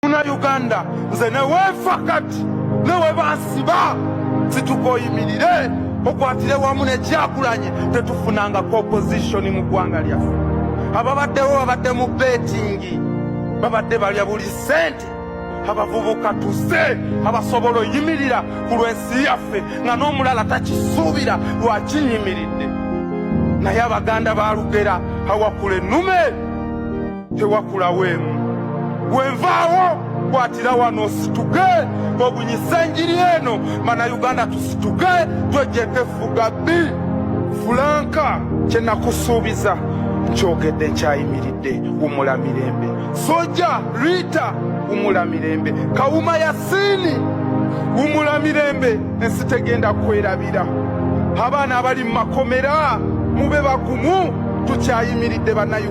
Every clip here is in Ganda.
muna uganda nze newefa kati newebansiba situkoyimirire okwatire wamu nekyakulanye tetufunangako opposition mu ggwanga lyaffe ababaddewo babadde mu betingi babadde balya buli sente abavubuka tuze abasobola oyimirira ku lwensi yaffe nga n'omulala takisuubira lwakinyimiridde naye abaganda balugera awakula ennume tewakulawo emu wenvaawo kwatira wano situke obunyisa enjiri eno mana uganda tusituke twejeko efuga bbi fulanka kyenakusuubiza nkyogedde nkyayimiridde wumula mirembe soja rita wumula mirembe kawuma yasiini wumula mirembe ensi tegenda kwerabira abaana abali mu makomera mube bagumu tukyayimiridde banayu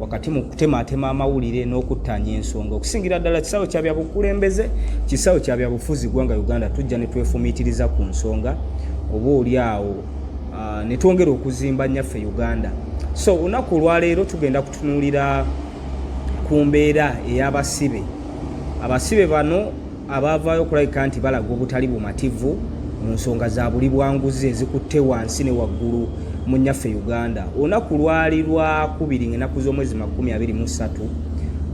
wakati mu kutemaatema amawulire n'okuttaanya ensonga okusingira ddala kisawo kya byabukulembeze kisawo kya byabufuzi gwanga uganda tujja ne twefumiitiriza ku nsonga oba oli awo ah, ne twongera okuzimba nnyaffe uganda so olunaku olwaleero tugenda kutunuulira ku mbeera ey'abasibe abasibe bano abaavaayo okulabika nti balaga obutali bumativu mu nsonga za buli bwanguzi ezikutte wansi ne waggulu mu nnyaffe uganda olunaku lwali lwakubiri ngaenaku z'omwezi makumi abiri mu ssatu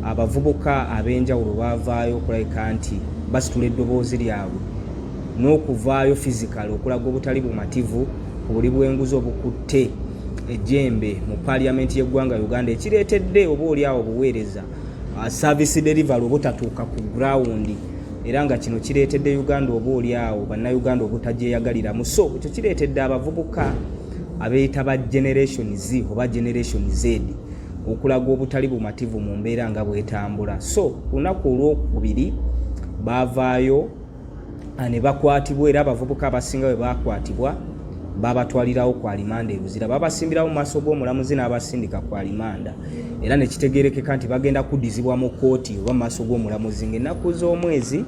abavubuka ab'enjawulo baavaayo okulabika nti basitula eddoboozi lyabwe n'okuvaayo fizikale okulaga obutali bumativu ku buli bwenguzi obukutte ejjembe mu paliyamenti y'eggwanga uganda ekireetedde oba oli awo obuweereza uh, service delivery obutatuuka ku ground era nga kino kireetedde uganda oba oli awo bannayuganda obutagyeyagaliramu so ekyo kireetedde abavubuka abeeyita ba generation z oba generation z okulaga obutali bumativu mu mbeera nga bwetambula so lunaku olwokubiri baavaayo ah, ne bakwatibwa era abavubuka abasinga bwe baakwatibwa babatwalirawo ku alimanda e Luzira babasimbirawo mu maaso g'omulamuzi n'abasindika ku alimanda era ne kitegeerekeka nti bagenda kuddizibwa mu kkooti oba mu maaso g'omulamuzi ng'ennaku z'omwezi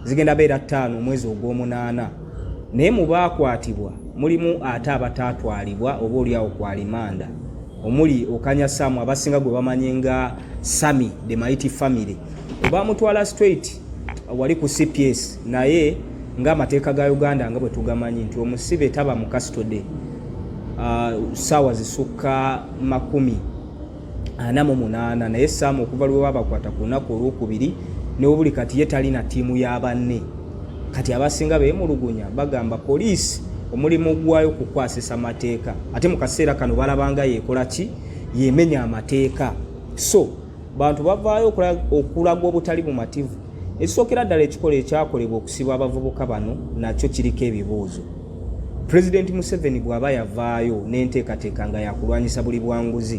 zigenda beera ttaano omwezi ogw'omunaana naye mu baakwatibwa mulimu ate abataatwalibwa oba oliawo ku alimanda omuli okanya samu abasinga gwe bamanye nga sami the mighty family obamutwala straight wali ku cps naye ng'amateeka ga uganda nga bwe tugamanyi nti omusibe taba mu kastode uh, saawa zisukka makumi ana mu munaana naye saamu okuva lwe babakwata ku lunaku olwokubiri newobuli kati ye talina ttiimu ya banne kati abasinga beemulugunya bagamba poliisi omulimu gwayo kukwasisa mateeka ate mu kaseera kano balabanga yeekola ki yemenya amateeka so bantu bavaayo okulaga obutali bumativu ekisookera ddala ekikola ekyakolebwa okusiba abavubuka bano nakyo kiriko ebibuuzo pulezidenti museveni bw'aba yavaayo n'enteekateeka nga yakulwanyisa buli bwanguzi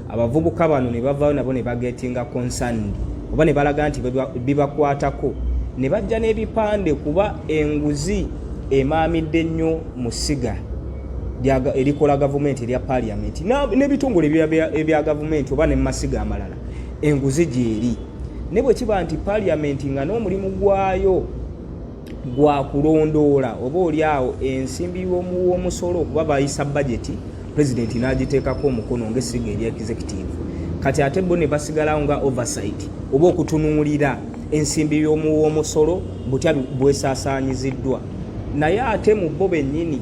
abavubuka bano ne bavaayo nabo ne bagetinga konsandi oba ne balaga nti bibakwatako ne bajja n'ebipande kuba enguzi emaamidde nnyo mu siga erikola gavumenti erya paliamenti n'ebitongole ebya gavumenti oba ne mu masiga amalala enguzi gyeri ne bwe kiba nti paliamenti nga n'omulimu gwayo gwa kulondoola oba oli awo ensimbi w'omusolo okuba bayisa bajeti pulezidenti n'agiteekako omukono ng'essiga eri executive kati ate bo ne basigalawo nga oversight oba okutunuulira ensimbi y'omuw'omusolo butya bwesaasaanyiziddwa naye ate mu bo bennyini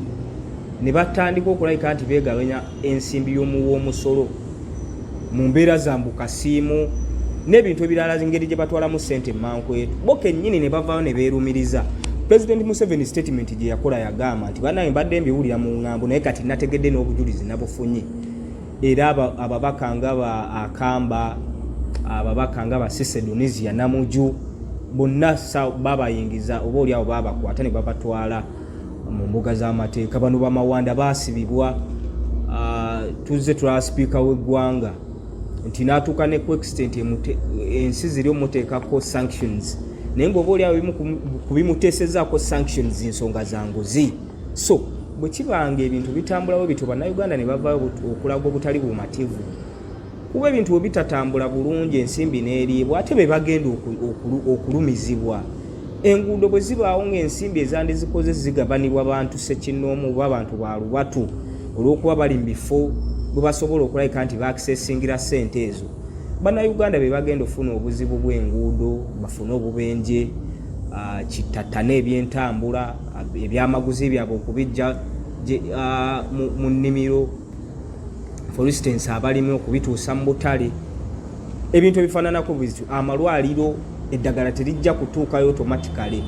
ne batandika okulabika nti beegabanya ensimbi y'omuwa omusolo mu mbeera zambu kasiimu n'ebintu ebirala ngeri gye batwalamu ssente mankwetu bo kennyini ne bavaayo ne beerumiriza pulezidenti museveni sitatimenti gye yakola yagamba nti banaye mbadde mbiwulira mu ŋŋambo naye kati nategedde n'obujulizi nabufunye era ababaka nga ba akamba ababaka nga basesedonisia namuju bonna babayingiza oba oliawo babakwata nebabatwala mu mbuga z'amateeka bano bamawanda basibibwa ah, tuzze tulaba sipiika w'eggwanga nti natuuka ne kuextent ensi ziri omuteekako sanctions naye ngaoba oliawo kubimuteesezaako sanctions nsonga zanguzi so bwe kibanga ebintu bitambulawo bityo bannayuganda ne bavayo okulaga obutali bumativu kuba ebintu bwe bitatambula bulungi ensimbi n'eriibwa ate be bagenda okulumizibwa enguudo bwe zibaawo ng'ensimbi ezandizikoze zigabanibwa bantu sekinnoomu oba abantu ba lubatu olw'okuba bali mu bifo bwe basobola okulabika nti baakisesingira ssente ezo bannayuganda be bagenda okufuna obuzibu bw'enguudo bafune obubenje ah, kittattana ebyentambula ebyamaguzi byabwe okubijja mu nnimiro for instance abalimi okubituusa mu butale ebintu ebifaananako bityo amalwaliro eddagala terijja kutuukayo automatically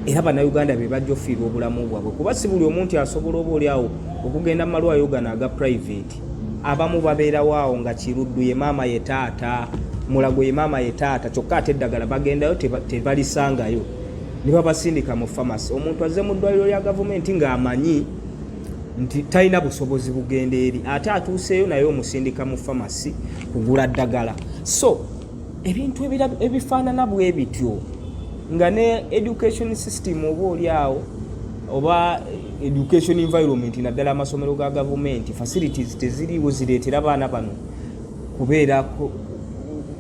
era bannayuganda be bajja ofiirwa obulamu bwabwe kuba si buli omu nti asobola oba oli awo okugenda mu malwaliro gano aga private abamu babeerawo awo nga kiruddu ye maama ye taata mulago ye maama ye taata kyokka ate eddagala bagendayo tebalisangayo te ne babasindika mu famasi omuntu azze mu ddwaliro lya gavumenti ng'amanyi nti talina busobozi bugenda eri ate atuuseeyo naye omusindika mu famasi kugula ddagala so ebintu ebifaanana bwe bityo nga ne education system oba oli awo oba education environment naddala amasomero ga gavumenti facilities teziriiwo zireetera baana bano kubeera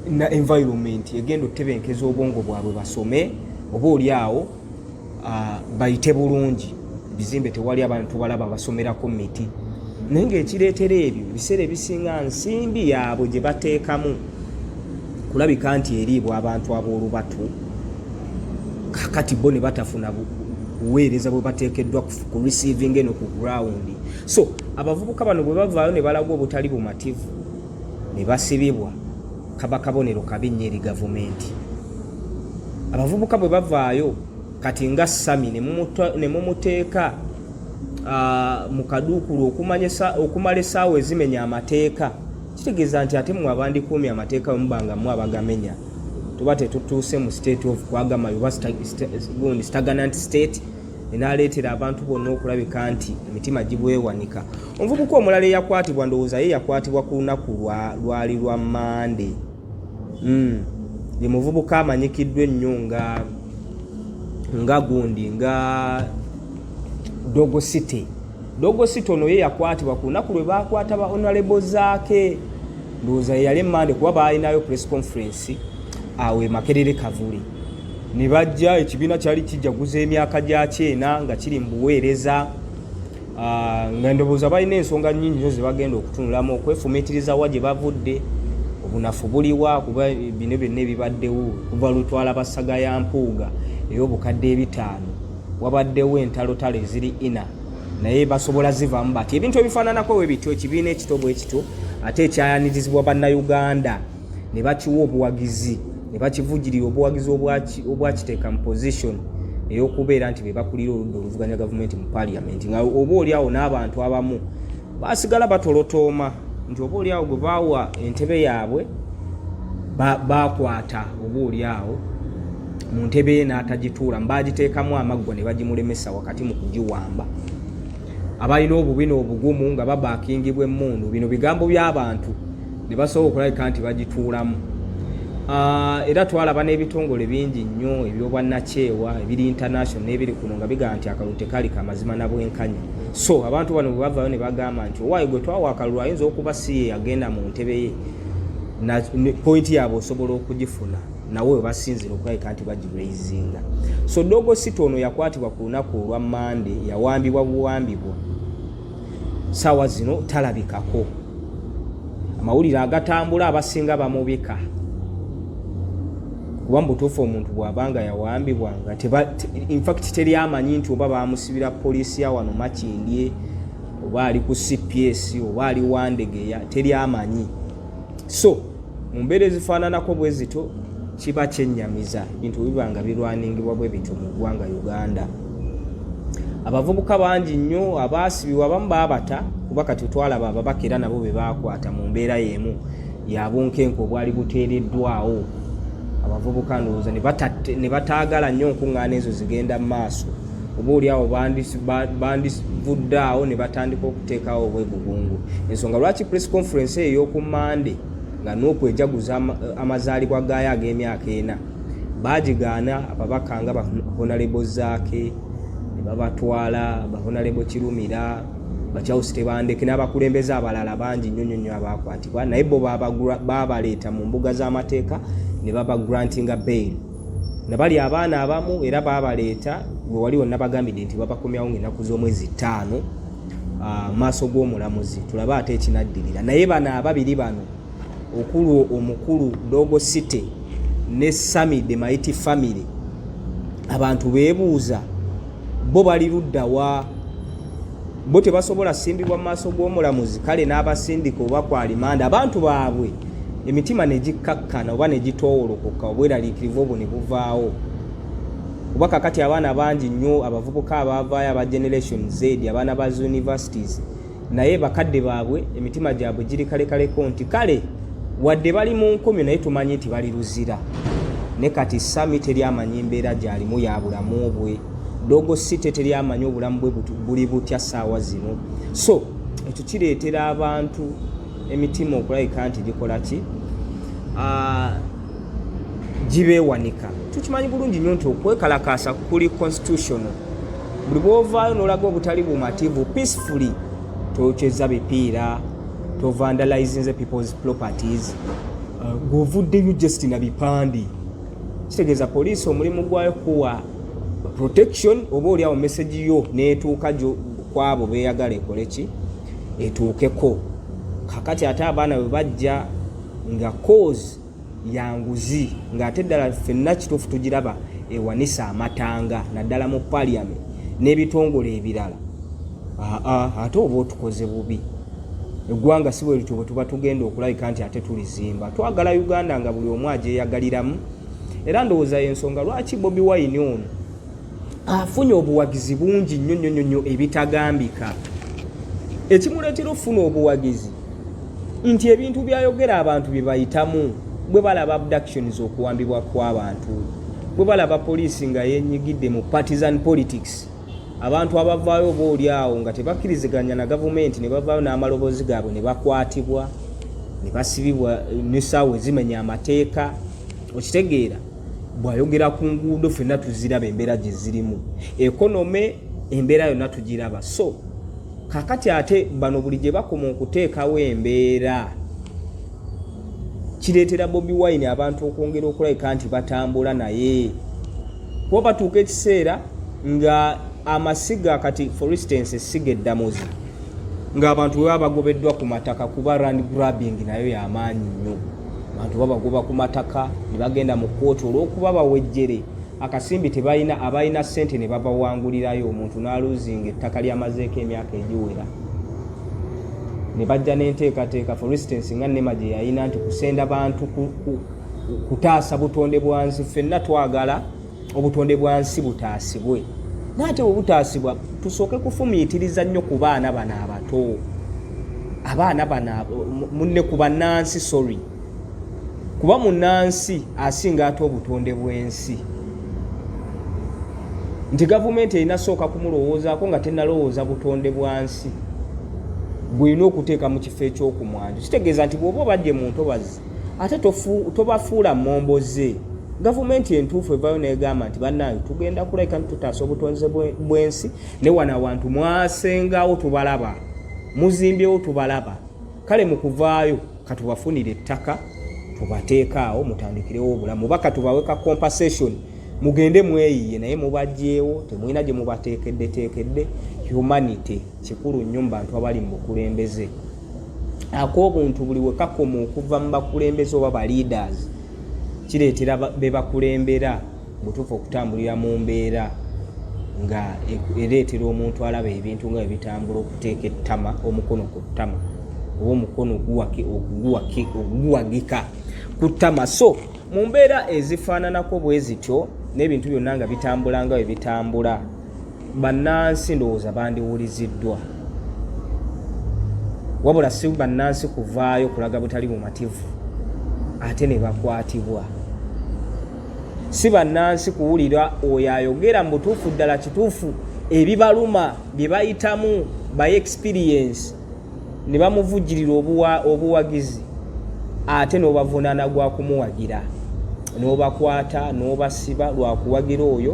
na environment egenda otebenkeza obwongo bwabwe basome oba oli awo ah, bayite bulungi bizimbe tewali abantu tubalaba basomerako miti naye ngaekireetera ebyo ebiseera ebisinga nsimbi yaabwe gye bateekamu kulabika nti eriibwa abantu ab'olubatu kakati bo ne batafuna buweereza bwe bateekeddwa ku receivinga eno ku ground so abavubuka bano bwe bavaayo ne balaga obutali bumativu ne basibibwa kaba kabonero kabi nnyo eri gavumenti abavubuka bwe bavaayo kati nga sami ne mumuteeka mu kaduukulu okumala essaawa ezimenya amateeka kitegeeza nti ate mwe abandikuumi amateeka wemubanga mu abagamenya tuba tetutuuse mu state of kwagamayo oba gundi stagnant state enaaleetera abantu bonna okulabika nti emitima gibwewanika omuvubuka omulala eyakwatibwa ndowooza ye yakwatibwa ku lunaku lwali lwa mande hmm. ye muvubuka amanyikiddwa ennyo nga nga gundi nga dogo city dogo city ono ye yakwatibwa ku lunaku lwe baakwata ba onalebo zaake ndowooza yeyali emande kuba baalinayo press conference awo emakerere kavuli ne bajja ekibiina kyali kijaguza emyaka gyakyo ena nga kiri mu buweereza ah, nga ndowooza balina ensonga nyingi nyo zebagenda okutunulamu okwefumitiriza wa gye bavudde obunafu buliwa kuba bino byonna ebibaddewo kuva lutwala basaga ya mpuuga ey'obukadde ebitaano wabaddewo entalotalo eziri ina naye basobola zivamu bati ebintu ebifaananako we bityo ekibiina ekito bwe kityo ate ekyayanirizibwa bannayuganda ne bakiwa obuwagizi ne bakivujirira obuwagizi obwakiteeka mu position ey'okubeera nti be bakulira oludda oluvuganya gavumenti mu parliament nga oba oli awo n'abantu abamu basigala batolotooma nti oba oli awo gwe baawa entebe yaabwe bakwata oba oli awo mu ntebe ye n'atagituula mbaagiteekamu amaggwa ne bagimulemesa wakati mu kugiwamba abalina obubi n'obugumu nga babakingibwa emmundu bino bigambo by'abantu ne basobola okulabika nti bagituulamu ah, era twalaba n'ebitongole bingi nnyo ebyobwannakyewa ebiri international n'ebiri kuno nga bigamba nti akalulu tekali kamazima na bwenkanya so abantu bano bwe bavayo ne bagamba nti owaayi gwe twawa akalulu ayinza okuba si ye yagenda mu ntebe ye pointi yaabwe osobola okugifuna nawe webasinzira okulabika nti bagiraizinga so dogo sita ono yakwatibwa ku lunaku olwa mande yawambibwa buwambibwa saawa zino talabikako amawulire agatambula abasinga bamubika kuba mubutuufu omuntu bwabanga yawambibwa nga infact teri amanyi nti oba bamusibira poliisi ya wano makindye oba ali ku cps oba ali wandegeya teri amanyi so mu mbeera ezifaananako bwe zito kiba kyennyamiza bintu biba nga birwaningibwa bwe bityo mu ggwanga uganda abavubuka bangi nnyo abaasibibwa abamu baabata kuba kati twalaba ababaka era nabo be baakwata mu mbeera y'emu yabunkenke obwali buteereddwawo abavubuka ndowooza ne bataagala nnyo nkuŋŋaana ezo zigenda mu maaso oba oliawo bandivudde awo ne batandika okuteekawo obwegugungu ensonga lwaki press conference eyo eyoku mande nga n'okwejaguza amazaalibwa gaayo ag'emyaka ena baagigaana ababaka nga bahonalebo zaake ne babatwala bahonalebo kirumira bakyawusi tebandeke n'abakulembeze abalala bangi nnyo nnyo nnyo abaakwatibwa naye bo baabaleeta mu mbuga z'amateeka ne baba grantinga bail nabali abaana abamu era babaleeta gwe wali wonabagambidde nti babakomyawo ngaenaku z'omwezi ttaano ah, maaso g'omulamuzi tulabe ate ekinaddirira naye bano ababiri bano okulwo omukulu dogo city ne sami de maiti family abantu bebuuza bo bali luddawa bo tebasobola simbibwa mu maaso g'omulamuzi kale n'abasindika oba ku alimanda abantu baabwe emitima ne gikkakkana oba ne gitoowolokoka obweraliikirivu obwo ne buvaawo kuba kakati abaana bangi nnyo abavubuka abaavaayo aba generation z abaana ba universities naye bakadde baabwe emitima gyabwe giri kalekaleko nti kale wadde bali mu nkumi naye tumanyi nti bali luzira ne kati sami teri amanyi mbeera gy'alimu ya bulamu bwe dogo si teteri amanyi obulamu bwe buli butya saawa zino so ekyo kireetera abantu emitima okulabika nti gikola ki ah, gibeewanika tukimanyi bulungi nnyo nti okwekalakaasa kuli constitutional buli bwovaayo nolaga obutali bumativu peacefully tokyeza bipiira tovandalizinze people's properties ah, gweovuddeyo just na bipande kitegeeza poliisi omulimu gwayo kuwa protection oba oli awo message yo netuuka kwabo beyagala ekole ki etuukeko kakati ate abaana bwe bajja nga cause yanguzi ng'ate ddala fenna kituufu tugiraba ewanisa amatanga naddala mu parliament n'ebitongole ebirala ate oba otukoze bubi eggwanga si bwe lityo bwe tuba tugenda okulabika nti ate tulizimba twagala uganda nga buli omu agyeyagaliramu era ndowooza yensonga lwaki bobi wine ono afunye obuwagizi bungi nnyo nnyo nnyo ebitagambika ekimuleetera okufuna obuwagizi nti ebintu byayogera abantu bye bayitamu bwe balaba abductions okuwambibwa kw'abantu bwe balaba poliisi nga yenyigidde mu partisan politics abantu abavaayo oba oli awo nga tebakkiriziganya na gavumenti ne bavaayo n'amaloboozi gaabwe ne bakwatibwa ne basibibwa nesaawa ezimenya amateeka okitegeera bwayogera ku nguudo fenna tuziraba embeera gye zirimu ekonome embeera yonna tugiraba so kakati ate bano buli gye bakoma okuteekawo embeera kireetera bobi wine abantu okwongera okulabika nti batambula naye kuba batuuka ekiseera nga amasiga kati for instance essiga eddamuzi ng'abantu bwe baba bagobeddwa ku mataka kuba rand grabbing nayo yamaanyi nnyo abantu babagoba ku mataka ne bagenda mu kkooti olw'okuba bawejjere akasimbi tebalina abalina ssente ne babawangulirayo omuntu n'aluuzinga ettaka lyamazeeko emyaka egiwera ne bajja n'enteekateeka for instance nga nema gye yalina nti kusenda bantu kutaasa butonde bwa nsi ffenna twagala obutonde bwa nsi butaasibwe naye ate bwebutaasibwa tusooke kufumiitiriza nnyo ku baana bano abato abaana bano munne ku bannansi sorry kuba munnansi asinga ate obutonde bw'ensi nti gavumenti erina sooka kumulowoozaako nga tenalowooza butonde bwa nsi bwelina okuteeka mu kifo ekyokumwanjo kitegeeza nti bwoba obadde muntu obazi ate tobafuula mmombo ze gavumenti entuufu evayo negamba nti bannange tugenda kulabika nti tutaasa obutonze bw'ensi ne wano awantu mwasengawo tubalaba muzimbyewo tubalaba kale mu kuvaayo katubafunire ettaka tubateekaawo mutandikirewo obulamu oba katubawe ka compensation mugende mweyiye naye mubagyewo temulina gye mubateekeddeteekedde humanity kikulu nnyo mu bantu abali mu bukulembeze ak'obuntu buli we kakoma okuva mu bakulembeze oba ba leaders kireetera be bakulembera butuufu okutambulira mu mbeera nga ereetera omuntu alaba ebintu nga ebitambula okuteeka ettama omukono ku ttama oba omukono oguwagika ku ttama so mu mbeera ezifaananako bwe zityo n'ebintu byonna nga bitambula nga bwe bitambula bannansi ndowooza bandiwuliziddwa wabula si bannansi kuvaayo kulaga butali bumativu ate ne bakwatibwa si bannansi kuwulira oyo ayogera mu butuufu ddala kituufu ebibaluma bye bayitamu by experience ne bamuvujjirira obuwagizi ate n'obavunaana gwa kumuwagira n'obakwata n'obasiba lwa kuwagira oyo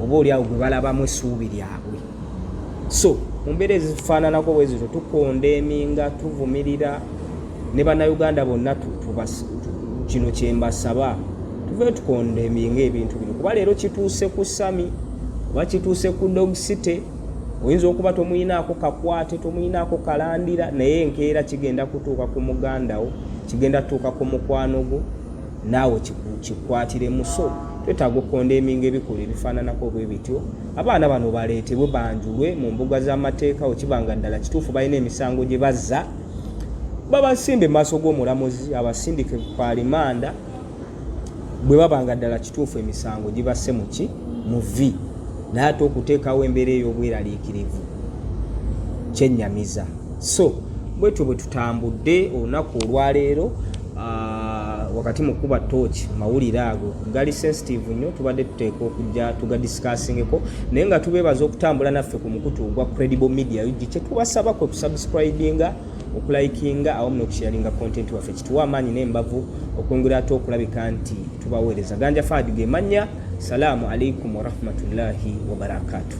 oba oli awo gwe balabamu essuubi lyabwe so mu mbeera ezifaananako bwe zito tukonda eminga tuvumirira ne bannayuganda bonna kino kye mbasaba tuve tukonda eminga ebintu bino kuba leero kituuse ku sami oba kituuse ku dog city oyinza okuba tomuyinaako kakwate tomuyinaako kalandira naye enkeera kigenda kutuuka ku mugandawo kigenda tutuuka ku mukwano gwo naawe kikwatire muso twetaaga okukonda eminga ebikulu ebifaananako obwe bityo abaana bano baleetebwe banjulwe mu mbuga z'amateeka wekiba nga ddala kituufu balina emisango gye bazza babasimbe mu maaso g'omulamuzi abasindike ku alimanda bwe baba nga ddala kituufu emisango gibasse mu ki mu vi naye ate okuteekawo embeera ey'obweraliikirivu kyennyamiza so bwetyo bwe tutambudde olunaku olwaleero ah, wakati mu kuba tooki mawulire ago gali sensitive nnyo tubadde tuteeka okujja tugadisikasingeko naye nga tubeebaza okutambula naffe ku mukutu ogwa credible media ug kyetubasaba kwe kusubscribinga okulikinga awamu n'okusharinga content waffe kituwa amaanyi n'embavu okwongera ate okulabika nti tubaweereza ganja faadi ge mannya salaamu alaikum warahmatullahi wabarakatuh